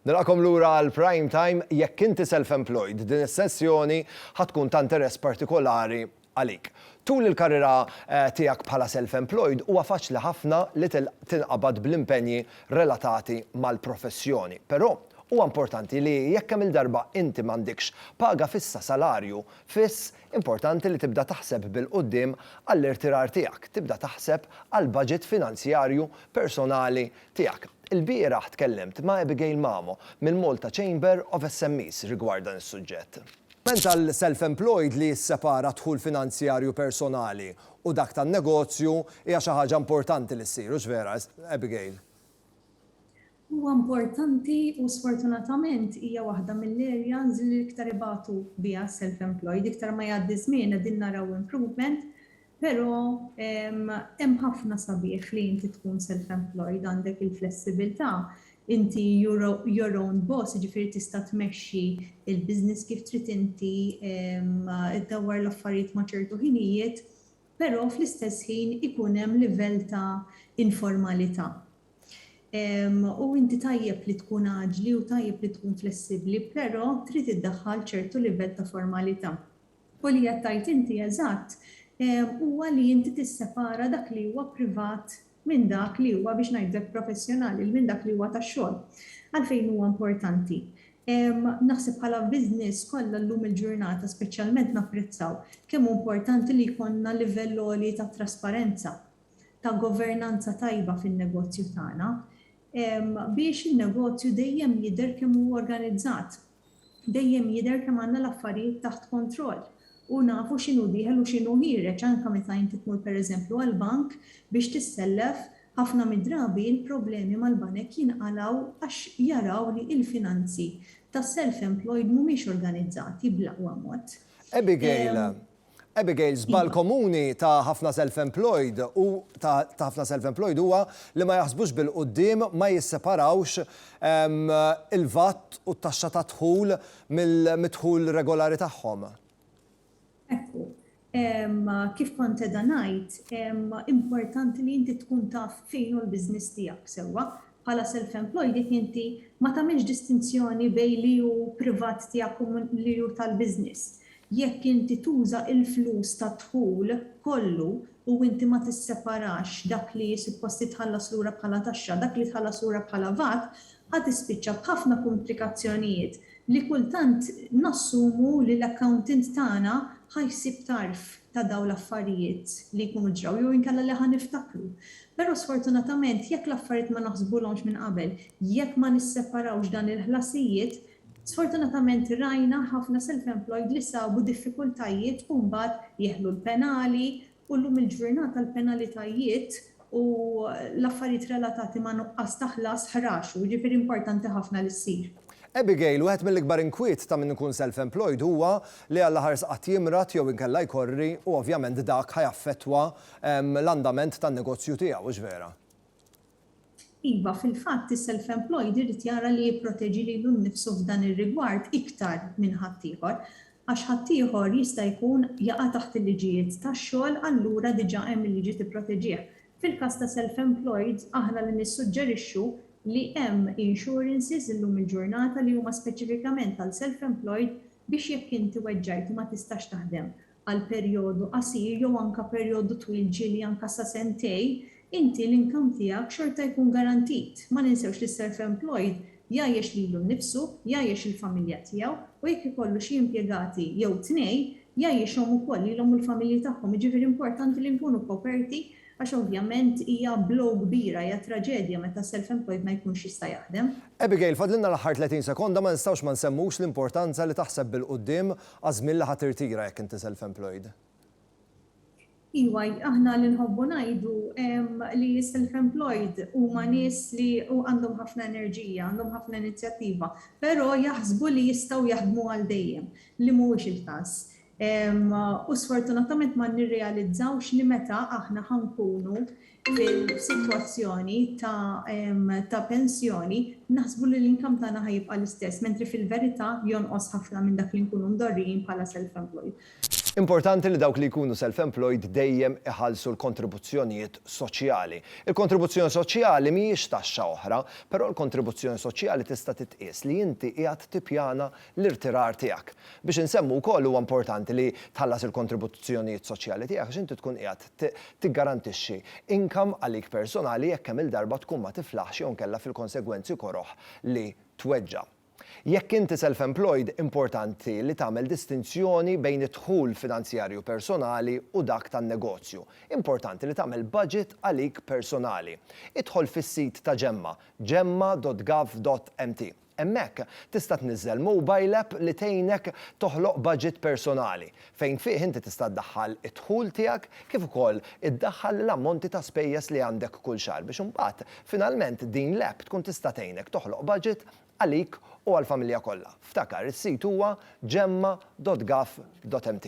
Nilqakom lura għal Prime Time, jekk inti self-employed, din is-sessjoni ħa tkun ta' interess partikolari għalik. Tul il-karriera tiegħek bħala self-employed huwa faċli ħafna li tinqabad bl-impenji relatati mal-professjoni. Però, huwa importanti li jekk kemm-il darba inti m'għandekx paga fissa, salarju fiss, Importanti li tibda taħseb bil-quddiem għall-irtirar tiegħek, tibda taħseb għall-baġit finanzjarju personali tiegħek. Ilbieraħ tkellimt ma' Abigail Mamo mill-Malta Chamber of SMEs rigward dan is-suġġett. Ment għall-self-employed li jissepara d-dħul finanzjarju personali u dak tan-negozju hija xi ħaġa importanti li ssir, hux vera, Abigail? Huwa importanti u sfortunatament hija waħda mill-areas li l-iktar ibatu biha s-self-employed. Iktar ma jgħaddi ż-żmien qegħdin naraw improvement, però hemm ħafna sabiħ li inti tkun self-employed, għandek il-flessibilità, inti your own boss, jiġifieri tista' tmexxi l-business kif trid inti, iddawwar l-affarijiet ma' ċertu ħinijiet, però fl-istess ħin ikun hemm livell ta' informalita'. U inti tajjeb li tkun aġli u tajjeb li tkun flessibbli, però trid iddaħħal ċertu livell ta' formalità. U li qed tgħid inti eżatt huwa li inti tissepara dak li huwa privat minn dak li huwa biex ngħidlek professjonali, minn dak li huwa tax-xogħol. Għalfejn huwa importanti? Naħseb bħala business kollha llum il-ġurnata speċjalment napprezzaw kemm hu importanti li jkollna livell għoli ta' trasparenza. ta' governanza tajba fin-negozju tagħna biex in-negozju dejjem jidher kemm hu organizzat, dejjem jidher kemm għandna l-affarijiet taħt kontroll u nafu x'inhu dieħel u x'inhu ħiereġ anke meta inti tmur pereżempju għall-bank biex tissellef, ħafna mid-drabi l-problemi mal-banek jinqalgħu għax jaraw li il-finanzi tas-self-employed mhumiex organizzati bl-aqwa mod. Abigail, Abigail, żball komuni ta' ħafna self-employed u ta' ħafna self-employed huwa li ma jaħsbux bil-quddiem, ma jisseparawx ehm, il-VAT u t-taxxa ta' dħul mill-dħul regolari tagħhom. Ekku, ehm, kif kont qegħda ngħid, ehm, importanti li inti tkun taf fejn hu l-business tiegħek sewwa, bħala self-employed jekk inti ma tagħmilx distinzjoni bejn li hu privat tiegħek u li hu tal-business. Jekk inti tuża l-flus tad-dħul kollu u inti ma tisseparax dak li suppost jitħallas lura bħala taxxa, dak li tħallas lura bħala vat, ħa tispiċċa b'ħafna kumplikazzjonijiet li kultant nassumu li l-accountant tagħna ħa jsib tarf ta' dawn l-affarijiet li jkunu ġraw jew inkella li ħa niftakru. Però sfortunatament jekk l-affarijiet ma naħsbulhomx minn qabel, jekk ma nisseparawx dan il-ħlasijiet, sfortunatament rajna ħafna self-employed li sabu diffikultajiet u mbagħad jeħlu l-penali u llum il-ġurnata l-penalitajiet u l-affarijiet relatati ma' nuqqas ta' ħlas ħraxu, jiġifieri importanti ħafna li ssir. Abigail, Wieħed mill-ikbar inkwiet ta' min ikun self-employed huwa li Alla ħarsqat jimrad jew inkella jkorri u ovvjament dak ħa jaffettwa l-andament tan-negozju tiegħu, hux vera? Iva, fil-fatt is-self-employed irid jara li jipproteġi lilu nnifsu f'dan ir-rigward iktar minn ħaddieħor, għax ħaddieħor jista' jkun jaqa' taħt il-liġijiet tax-xogħol allura diġà hemm il-liġi tipproteġih. Fil-każ ta' self-employed aħna li nissuġġerixxu li hemm insurances illum il-ġurnata li huma speċifikament għal self-employed biex jekk inti weġġajt u ma tistax taħdem għal perjodu qasir jew anke perjodu twil ġieli anke sa sentejn, inti l-income tiegħek xorta jkun garantit. Ma ninsewx li s-self employed jgħajjex lilu nnifsu, jgħajjex il-familja tiegħu u jekk ikollu xi impjegati jew tnejn, jgħajjixhom ukoll lilhom u l-familji tagħhom. Jiġifieri importanti li nkunu koperti għax ovvjament hija blow kbira, hija traġedja meta s-self employed ma jkunx jista' jaħdem. Abigail, fadlilna l-aħħar 30 sekonda, ma nistgħux ma nsemmux l-importanza li taħseb bil-quddiem Għaż-żmien li ħa tirtira jekk inti self-employed? Iwa, aħna li nħobbu ngħidu li s-self-employed huma nies li għandhom ħafna enerġija, għandhom ħafna inizjattiva, però jaħsbu li jistgħu jaħdmu għal dejjem, li mhuwiex il-każ. U sfortunatament ma nirrealizzawx li meta aħna ħa nkunu fil-sitwazzjoni ta' pensjoni naħsbu li l-income tagħna ħa jibqa' l-istess, mentri fil-verità jonqos ħafna minn dak li nkunu mdorrijin bħala self-employed. Importanti li dawk li jkunu self-employed dejjem iħallsu l-kontribuzzjonijiet soċjali. Il-kontribuzzjoni soċjali mhijiex taxxa oħra, però l-kontribuzzjoni soċjali tista' titqies li inti qiegħed tippjana l-irtirar tiegħek. Biex insemmu wkoll huwa importanti li tħallas il-kontribuzzjonijiet soċjali tiegħek għax inti tkun qiegħed tiggarantixxi income għalik personali jekk kemm-il darba tkun ma tiflaħx jew inkella fil-konsegwenzi koroh li tweġġa'. Jekk inti self-employed importanti li tagħmel distinzjoni bejn id-dħul finanzjarju personali u dak tan-negozju. Importanti li tagħmel budget għalik personali. Idħol fis-sit ta' Ġemma, jemma.gov.mt. Hemmhekk tista' tniżżel mobile app li tgħinek toħloq budget personali, fejn fih inti tista' ddaħħal id-dħul tiegħek kif ukoll iddaħħal l-ammonti ta' spejjeż li għandek kull xahar biex imbagħad finalment din l-app tkun tista' tgħinek toħloq budget għalik u għall-familja kollha. Ftakar, is-sit huwa gemma.gov.mt.